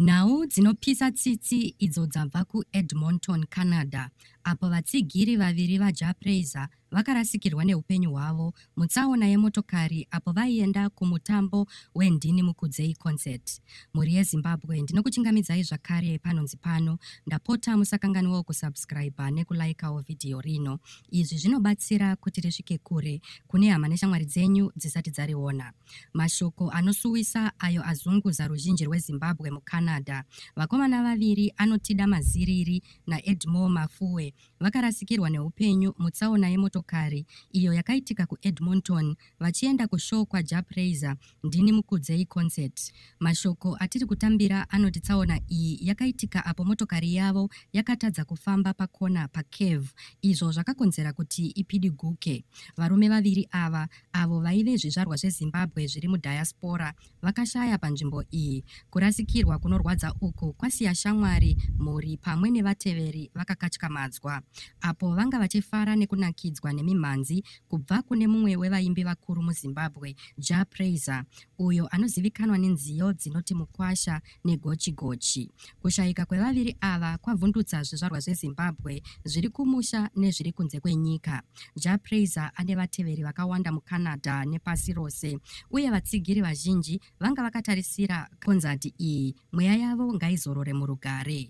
Nhau dzinopisa tsitsi idzo dzabva kuEdmonton, Canada, apo vatsigiri vaviri vaJah Prayzah vakarasikirwa neupenyu hwavo mutsaona yemotokari apo vaienda kumutambo weNdini Mukudzei Concert. Mhuri yeZimbabwe, ndinokuchingamidzai zvakare panonzi pano. Ndapota musakanganwewo kusubscriber nekulaikawo vhidhiyo rino. Izvi zvinobatsira kuti risvike kure kune hama neshamwari dzenyu dzisati dzariona. Mashoko anosuwisa ayo azunguza ruzhinji rweZimbabwe muCanada. Vakomana vaviri Anotida Maziriri naEdmore Mafuwe vakarasikirwa neupenyu mutsaona yemotokari iyo yakaitika kuEdmonton vachienda kushow kwaJah Prayzah Ndini Mukudzei Concert. Mashoko atiri kutambira anoti tsaona iyi yakaitika apo motokari yavo yakatadza kufamba pakona paCave izvo zvakakonzera kuti ipidiguke. Varume vaviri ava avo vaive zvizvarwa zveZimbabwe zviri mudiaspora vakashaya panzvimbo iyi. Kurasikirwa kunorwadza uku kwasiya shamwari, mhuri pamwe nevateveri vakakatyamadzwa apo vanga vachifara nekunakidzwa nemimhanzi kubva kune mumwe wevaimbi vakuru muZimbabwe, Jah Prayzah, uyo anozivikanwa nenziyo dzinoti mukwasha negochigochi. Kushayika kwevaviri ava kwavhundutsa zvizvarwa zveZimbabwe zviri kumusha nezviri kunze kwenyika. Jah Prayzah ane vateveri vakawanda muCanada nepasi rose uye vatsigiri vazhinji vanga vakatarisira konzati iyi. Mweya yavo ngaizorore murugare.